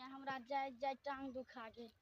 हमरा जाइत जाइत टांग दुखा गेल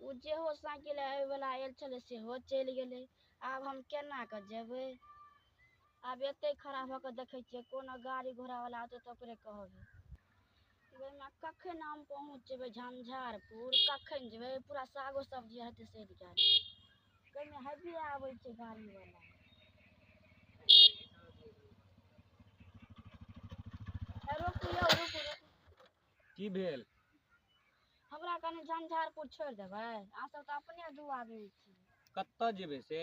ओ जेहो साइकिल आबयवला आयल छलै सेहो चलि गेलै आब हम केना कऽ जेबै आब एते खड़ा भऽ कऽ देखै छियै कोनो गाड़ी घोड़ावला औतै तऽ ओकरे कहबै ओहिमे कखन हम पहुँचबै झंझारपुर कखन जेबै पूरा सागो सब्जी हेतै सड़ि गेल कहिमे हेबी आबै छै गाड़ीवला रुकू यौ रुकू रुकू की भेल हमरा कनि झंझारपुर छोड़ि देबै अहाँ सब तऽ अपने दू आदमी छी कतऽ जेबै से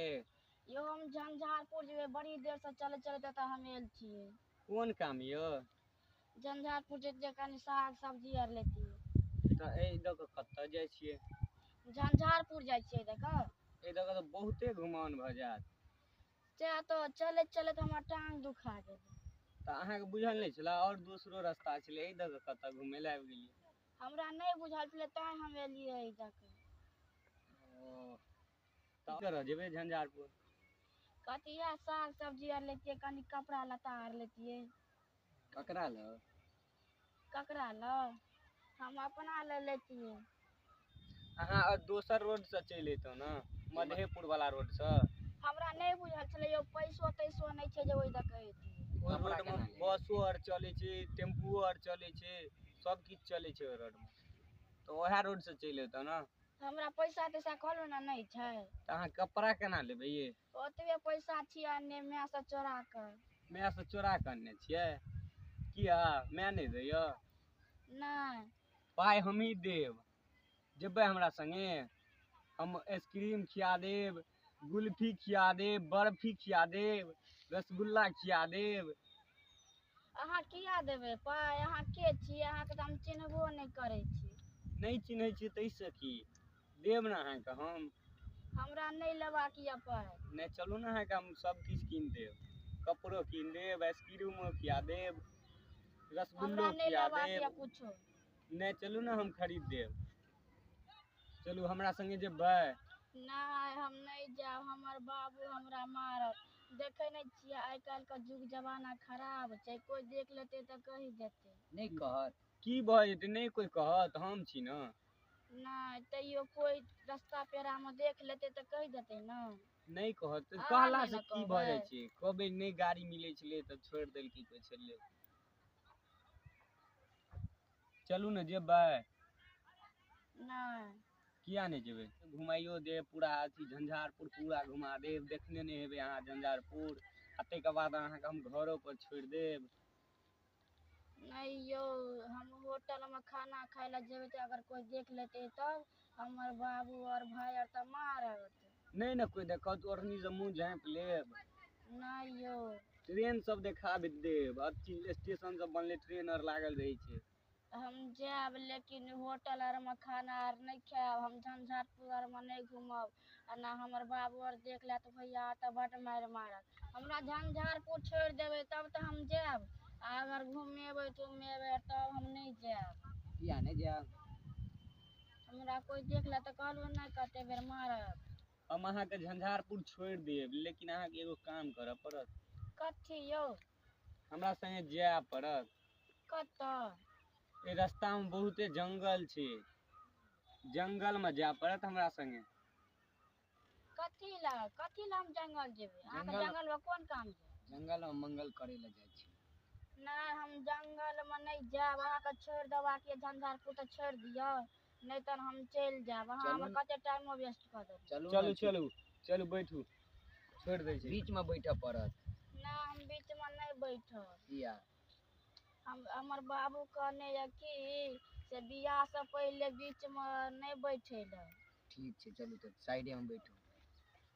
यौ हम झंझारपुर जेबै बड़ी देर से चलैत चलैत एतऽ हम आयल छियै कोन काम यौ झंझारपुर जैतियै कनि साग सब्जी आर लेतियै तऽ एहि दऽ कऽ कतऽ जाइ छियै झंझारपुर जाइ छियै देखऽ एहि दऽ कऽ तऽ बहुते घुमान भऽ जायत सएह तऽ चलैत चलैत हमर टाँग दुखा गेल तऽ अहाँके बुझल नहि छलए आओर दोसरो रस्ता छलै एहि दऽ कऽ कतऽ घुमै लए आबि गेलियै हमरा नहि बुझल छलै तैँ हम एलियै एहि दऽ कऽ ओ तऽ करऽ जेबै झंझारपुर कथी इएह साग सब्जी आर लेतियै कनि कपड़ा लत्ता आर लेतियै ककरा लग ककरा ल हम अपना ल लेतियै अहाँ अ- दोसर रोड से चलि अयतहुँ ने मधेपुर वाला रोड से हमरा नहि बुझल छलै यौ पैसो तैसो नहि छै जे ओहि दऽ कऽ अयतियै ओहि रोड मे बसो आर चलै छै टेम्पुओ आर चलै छै सब किछु चलै छै ओहि रोड मे तऽ ओएह रोड से चलि अयतहुँ ने तऽ हमरा पैसा तैसा कहलहुँ ने नहि छै तऽ अहाँ कपड़ा केना लेबै ये ओतबे पैसा छियै अनने माय से चोरा कऽ माय से चोरा कऽ अनने छियै किया माय नहि दैया नहि पाइ हमही देब जेबै हमरा संगे हम आइसक्रीम खिया देब गुल्फी खिया देब बर्फी खिया देब रसगुल्ला खिया देब अहाँ किया देबै पाइ अहाँ के छियै अहाँके तऽ हम चिन्हबो नहि करै छी नहि चिन्है छियै ताहिसँ की देब ने अहाँके हम हमरा नहि लेबाक यऽ पाइ नहि चलू ने अहाँके हम सब किछु कीन देब कपड़ो कीन देब आइसक्रीमो खिया देब हमरा रसगुल्लो नहि खिया लेबाक यऽ देब कुछो नहि चलू ने हम खरीद देब चलू हमरा संगे जेबै नहि हम नहि जायब हमर बाबू हमरा मारत देखै नहि छियै आइ काल्हि के युग जमाना खराब छै कोइ देख लेतै तऽ कहि देतै नहि कहत की भऽ जेतै नहि कोइ कहत हम छी ने नहि तैयो कोई रास्ता पेरा में देख लेते तो कह देते ना नहीं कहत तो अहाँ कहला नहीं से न की भ जाय कहबै। छै कहबे नहीं गाड़ी मिले छले त छोड़ देल की कोई छले चलू ने जेबै नहीं किया नहीं जेबै घुमाइयो दे पूरा अथी झंझारपुर पूरा घुमा देब देखने नहीं हेबै अहाँ झंझारपुर आ ताहिके बाद अहाँके हम घरो पर छोड़ि देब नहि यौ हम होटल मे खाना खाय लए जेबै तऽ अगर कोइ देख लेतै तब हमर बाबू और भाय आर तऽ मारत नहि ने कोइ देखत ओढ़नी से मुंह झाँपि लेब नहि यौ ट्रेन सब देखाबि देब अथी स्टेशन सब बनले ट्रेन आर लागल रहै छै हम जायब लेकिन होटल आर में खाना आर नहीं खायब हम झंझारपुर आर में नहीं घूमब आ ना हमर बाबू आर देख लेत भैया तऽ बड मारि मारत हमरा झंझारपुर छोड़ देबे तब तऽ हम जायब आ अगर घूमेबे तुमेबे तब हम नहीं जायब किया नहीं जायब हमरा कोई देख ले तऽ कहलू नहीं कते बेर मारत हम अहाँके झंझारपुर छोड़ देब लेकिन अहाँके एगो काम करऽ पड़त कथी यौ हमरा संगे जाय पड़त कतऽ एहि रस्तामे बहुते जंगल छै जंगलमे जाय पड़त हमरा संगे कथी लए कथी लए हम जंगल जेबै अहाँके जंगल- जंगल मे कोन काम छै जंगलमे मंगल करै लए जाइ छी नहि हम जंगल मे नहि जायब अहाँके छोड़ि देबाक यऽ झंझारपुर तऽ छोड़ि दियौ नहि तहन हम चलि जायब अहाँ हमर कते टाइमो वेस्ट कऽ देब चलू चलू चलू चलू बैठू छोड़ि दै छी बीचमे बैठऽ पड़त नहि हम बीचमे नहि बैठब किया हम हमर बाबू कहने यऽ कि से बियाहसँ पहिले बीचमे नहि बैठे लए ठीक छै चलू तऽ साइडेमे बैठू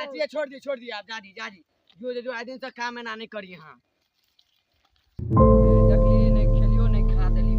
अरे छोड़ दिए छोड़ दिए आप जा दी जा दी जो जो आए दिन से काम एना नहीं करी हाँ देखलिए नहीं खेलियो नहीं खा देलियो